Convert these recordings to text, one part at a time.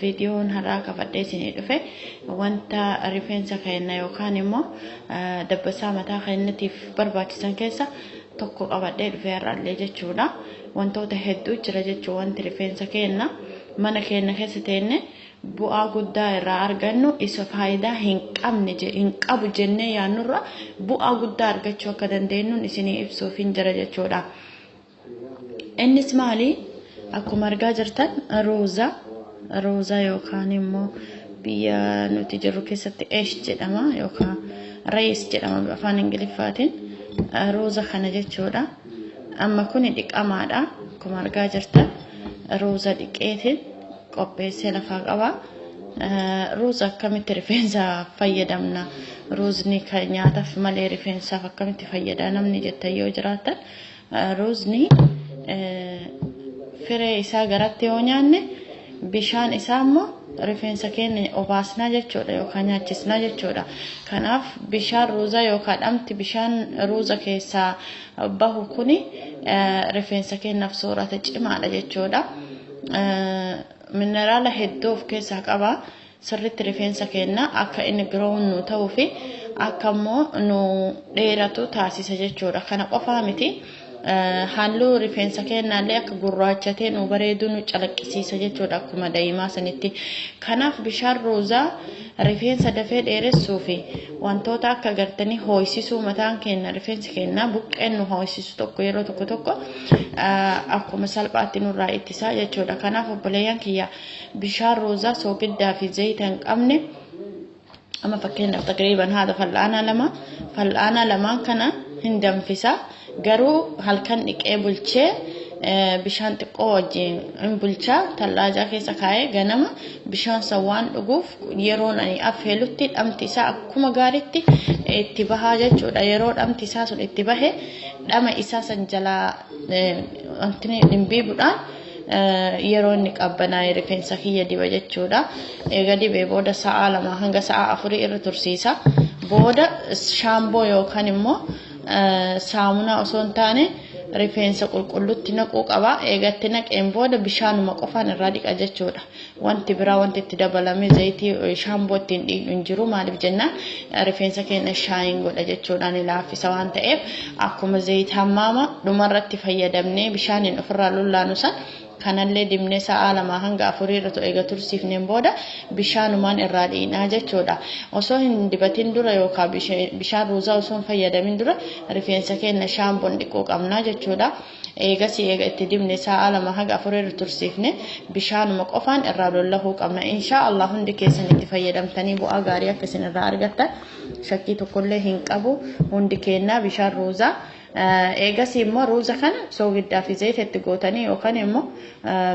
Viidiyoon har'aa qabadhee isinii dhufe wanta rifeensa keenna yookaan immoo dabbasaa mataa keennatiif barbaachisan keessa tokko qabadhee dhufe har'allee jechuudha. Wantoota hedduu jira jechuu wanti rifeensa keenna mana keenna keessa teenne bu'aa guddaa irraa argannu isa faayidaa hin qabne hin qabu jennee yaannurra bu'aa guddaa argachuu akka dandeenyuun isinii ibsuuf hin jira jechuudha. Innis maali? Akkuma argaa jirtan rooza rooza yookaan immoo biyya nuti jirru keessatti esh jedhama yookaan rees jedhama afaan ingiliffaatiin rooza kana jechuudha. Amma kuni dhiqamaadha. Akkuma argaa jirtan rooza dhiqeetiin qopheessee lafaa qaba. Rooza akkamitti rifeensa fayyadamna? Roozni kan nyaataaf malee rifeensaaf akkamitti fayyada namni jettan yoo jiraatan Ruuzni firee isaa garatti yoo nyaanne bishaan isaa immoo rifeensa keenya obaasnaa jechuudha yookaan nyaachisnaa jechuudha. Kanaaf bishaan ruuzaa yookaan dhamti bishaan ruuza keessaa bahu kuni rifeensa keenyaaf soorata cimaadha jechuudha. Mineraala hedduu of keessaa qaba. sirritti rifeensa keenna akka inni grown nuu ta'uu fi akka immoo nu dheeratu taasisa jechuudha. Kana qofaa miti halluu rifeensa keennaa illee akka gurraachatee nu bareeduu nu calaqqisiisa jechuudha akkuma da'imaa sanitti. Kanaaf bishaan ruuzaa rifeensa dafee dheeressuu fi wantoota akka gartanii hoo'isisuu mataan keenna rifeensi keennaa buqqeen nu hoo'isisu tokko yeroo tokko tokko akkuma salphaatti nurraa ittisaa jechuudha. Kanaaf obboleeyyan kiyya Bishaan roozaa soogiddaa fi zayita hin qabne amma fakkeenyaaf taqriiban haadha fal'aanaa lama fal'aanaa lamaan kana hin danfisa garuu halkan dhiqee bulchee bishaan xiqqoo wajjin hin bulchaa tallaajaa keessa kaa'ee ganama bishaan san waan dhuguuf yeroon ani affeelutti dhamti isaa akkuma gaariitti itti bahaa jechuudha yeroo dhamti isaa sun itti bahe dhama isaa san jalaa wanti dhimbiibudhaan yeroo inni qabbanaa'e rifeensa kiyya diba jechuudha. Eega dibee booda sa'aa lama hanga sa'aa afurii irra tursiisa. Booda shaamboo yookaan immoo saamunaa osoo hin taane rifeensa qulqullutti naquu qaba. Eegatti naqeen booda bishaanuma qofaan irraa dhiqa jechuudha. Wanti biraa wanti itti dabalame zayitii shaamboo ittiin dhiiqnu hin jiru maaliif jennaan rifeensa keenya shaayin godha jechuudhaan ni laaffisa waan ta'eef akkuma zayita hammaama dhumarratti fayyadamnee bishaaniin ofirraa lullaanu san kanallee dibnee sa'aa lamaa hanga afurii irra ta'u eega tursiifneen booda bishaanumaan irraa dhiinaa jechuudha. Osoo hin dibatin dura yookaan bishaan ruuzaa osoo hin fayyadamin dura rifeensa keenya shaamboon dhiquu qabna jechuudha. Eegasii eega itti dibne saa'aa 2-4 irra tursiifne bishaanuma qofaan irraa lollahuu qabna. Inshaa Allah hundi keessan itti fayyadamtanii bu'aa gaarii akka isin irraa argattan shakkii tokkollee hin qabu. Hundi keennaa bishaan ruuzaa eegasii immoo ruuza kana soogiddaa fi zayita itti gootanii yookaan immoo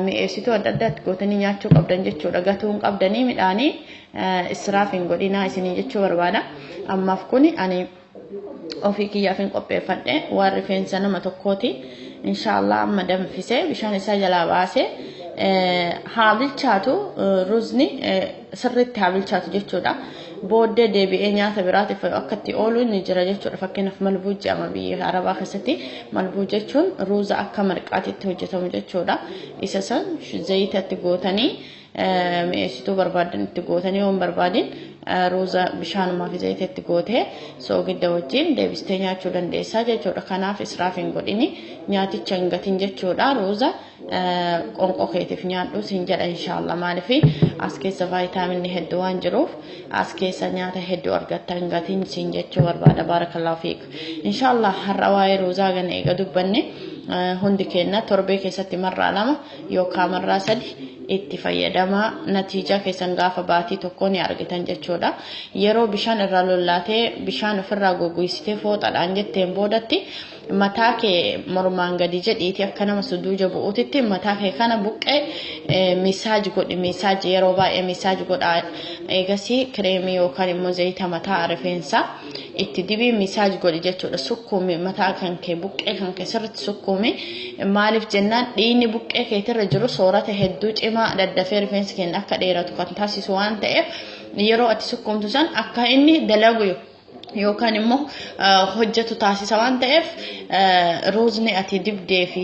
mi'eessituu adda addaa itti gootanii nyaachuu qabdan jechuudha. Gatuu hin qabdanii midhaanii israaf hin godhinaa isiniin jechuu barbaada. Ammaaf kuni ani Ofii kiyyaafin qopheeffadhe waan rifeensa nama tokkooti. Inshaallah amma danfisee bishaan isaa jalaa baasee haa bilchaatu ruuzni sirriitti haa bilchaatu jechuudha. Booddee deebi'ee nyaata biraatiif akka itti oolu ni jira jechuudha. Fakkeenyaaf malbuu jedhama biyya Arabaa keessatti malbuu jechuun ruuza akka marqaatitti hojjetamu jechuudha. Isa san zayitatti gootanii mi'eessituu barbaadan itti gootanii waan barbaadin ruuza bishaanumaa fi zayita itti gootee soogidda wajjin deebistee nyaachuu dandeessaa jechuudha. Kanaaf israaf hin godhini nyaaticha hin gatin jechuudha. Ruuza qonqoo keetiif nyaadhu siin jedha inshaallah maaliif as keessa vaayitaaminni hedduu waan jiruuf as keessa nyaata hedduu argatta hin gatin siin jechuu barbaada baarakallahu fiik. Inshaallah har'a waa'ee ruuzaa gana eega dubbanne hundi keenya torbee keessatti marraa lama yookaa marraa sadi itti fayyadamaa natiijaa keessan gaafa baatii tokkoo ni argitan jechuudha yeroo bishaan irraa lollaatee bishaan ofirraa goggoysitee fooxadhaan jetteen boodatti mataa kee mormaan gadi jedhiiti akka nama suduuja bu'uutitti mataa kee kana buqqee misaaj godhi misaaj yeroo baay'ee misaaj godha eegasii kireemii yookaan immoo zayita mataa rifeensaa itti dibii misaaj godhi jechuudha sukkuumi mataa kan kee buqqee kan kee sirriitti sukkuumi maaliif jennaan dhiigni buqqee keetirra jiru soorata hedduu cimaa daddafee rifeensi keenya akka dheeratu kan taasisu waan ta'eef yeroo ati sukkuumtu san akka inni dalagu yookaan immoo hojjetu taasisa waan ta'eef ruuzni ati dibdee fi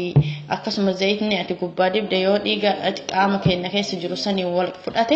akkasumas zayitni ati gubbaa dibde yoo dhiiga qaama keenya keessa jiru saniin wal fudhate